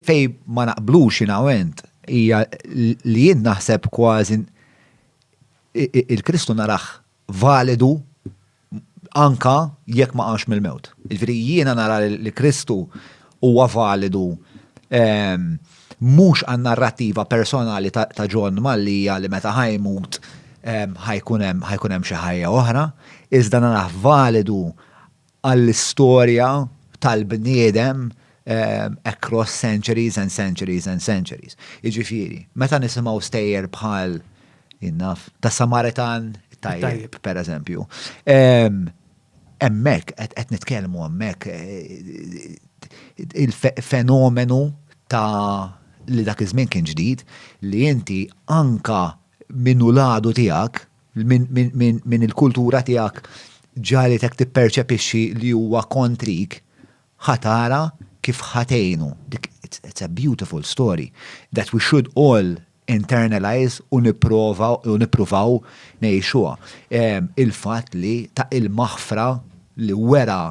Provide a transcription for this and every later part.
Fej ma naqblux jina u int, hija li jien naħseb kważi il-Kristu naraħ validu anka jekk ma qamx mill-mewt. Ġifieri jiena nara li Kristu huwa validu ehm, mhux għan narrattiva personali ta' John Mallija li meta ħajmut ehm, ħajkun hemm xi ħajja oħra, iżda naraħ validu għall-istorja tal-bniedem across centuries and centuries and centuries. Jiġifieri, meta nisimgħu stejjer bħal, jien naf, tas-Samaritan tajjeb, per eżempju. Hemmhekk, qed nitkellmu hemmhekk, il-fenomenu ta' li dak iż-żmien kien ġdid, li inti anke minn hu l-għadu tiegħek, minn il-kultura tiegħek ġagħlitek tipperċepixxi li huwa kontrik, ħa tara kif ħa tgħinu. It's a beautiful story that we should all internalise u nippruvaw ngħixuha. Il-fatt li ta' il-maħfra li wera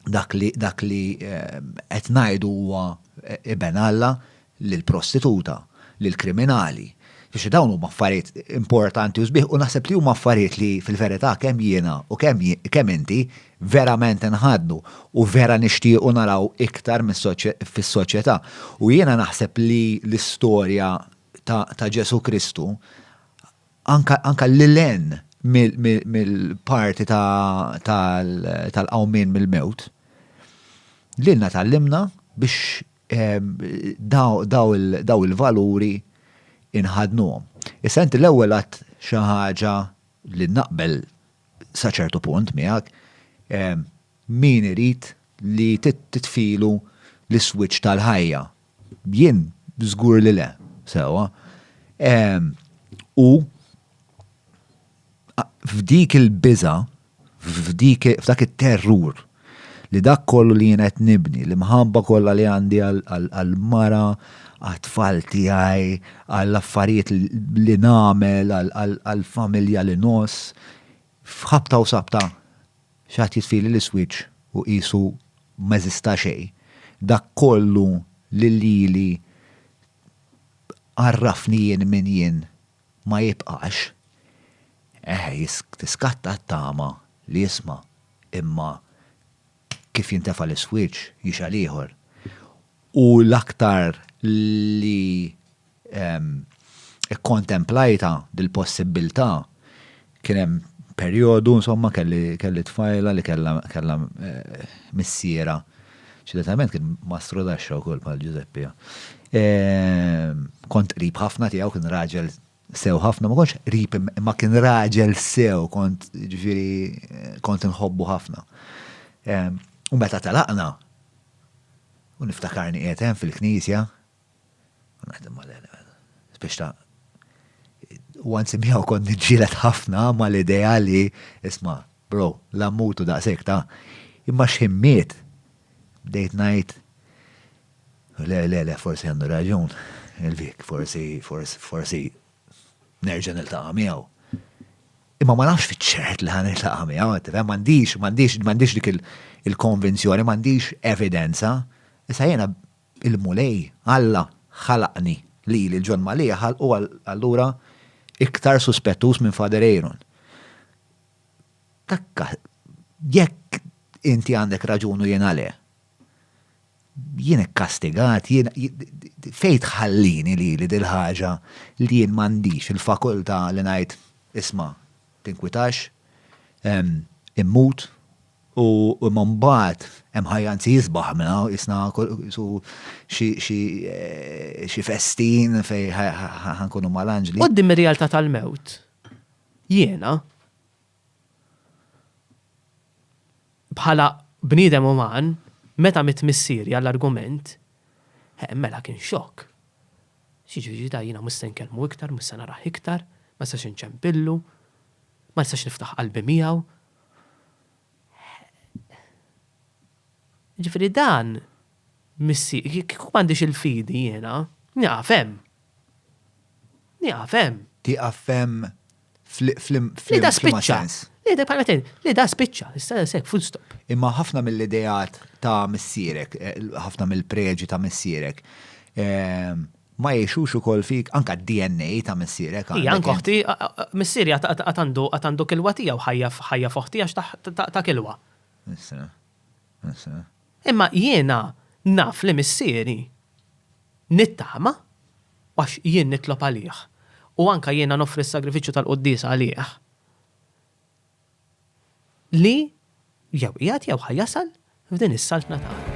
dak li dak li qed ngħidu huwa iben Alla lill-prostituta, lill-kriminali. Biex dawn huma affarijiet importanti u sbieħ u naħseb li huma affarijiet li fil-verità kemm jiena u kemm kemm inti verament inħadnu u vera nixtiequ naraw iktar fis-soċjetà. U jiena naħseb li l-istorja ta' Ġesù Kristu anke lil hinn mill-parti tal-qawmien mill-mewt, lilna tgħallimna biex dawn il-valuri nħaddnuhom. Issa inti l-ewwel għidt xi ħaġa li naqbel sa ċertu punt miegħek, Min irid li titfilu l-iswiċċ tal-ħajja? Jien żgur li le. Sewwa. U f'dik il-biża', f'dak it-terrur li dak kollu li jien qed nibni, l-imħabba kollha li għandi għall-mara, għat-tfal tiegħi, għall-affarijiet li nagħmel, għall-familja li ngħożż, f'ħabta u sabta Xi ħadd jitfieli l-iswieġ u qisu m'eżista xejn. Dak kollu li lili għarrafni jien min jien ma jibqax. Eh, tiskatta t-tama li jisma', imma kif jintefa' l-iswieġ jixgħel ieħor. U l-aktar li kkontemplajtha dil-possibbiltà, kien hemm perjodu, insomma, kelli tfajla li kellha missierha, ċitatament kien mastru taxxa wkoll bħal Ġużeppi. Kont qrib ħafna tiegħu, kien raġel sew ħafna, ma kontx rip imma kien raġel sew, kont ġifiri, kont nħobbu ħafna. U meta talaqna, u niftakarni għetem fil-knisja, u naħdem ma biex ta' u għanzi miħaw kont nġilet ħafna ma l-ideja li, isma, bro, la mutu da' sekta, imma xħimmiet, bdejt najt, Le, le, le, forsi għandu raġun il-Vic, forsi, forsi, forsi nerġa' niltaqa' miegħu. Imma ma nafx fiċ-ċert li ħan niltaqa' miegħu, qed tifhem, m'għandix, m'għandix, m'għandix dik il-konvinzjoni, m'għandix evidenza. Issa jiena il-Mulej, Alla, ħalaqni lili l-John Mallia ħalqu allura iktar suspettuż minn Father Aaron. Takka, jekk inti għandek raġunu jiena le, jien ikkastigat, jien fejn tħallini lili dil-ħaġa li jien m'għandix il-fakultà li ngħid isma' tinkwitax, immut, u imma mbagħad hemm ħajja anzi isbaħ minn hawn qisna su xi festin fejn ħa nkunu mal-anġli. Quddiem ir-realtà tal-mewt jiena Bħala bniedem uman, meta mitt missieri għall-argument, eh, mela kien xokk. X'jiġifieri da jiena mhux se nkellmu iktar, mhux se narah iktar, ma nistax inċempillu, ma nistax niftaħ qalbi miegħu? Eh. Jiġifieri dan missier, kieku m'għandix il-fidi jiena, nieqaf hemm. Nieqaf hemm. Tieqaf f'hemm f'liema sens? Le da spiċċa. Le da spiċċa. Issa hekk, full stop. Imma ħafna mill-ideat ta' missierek, ħafna mill-preġi ta' missierek, ma jgħixux ukoll fik, anke d-DNA ta' missierek. Hi, anke oħti, missieri għad għandu kilwa tiegħu, ħajja f'oħti għax ta' kilwa. Imma jiena naf li Missieri, nittama, għax jien nitlob għalih, u anke jiena noffri s-sagrifiċċju tal-quddiesa għalih, li jew qiegħed jew ħa jasal f'din is-Saltna tagħna.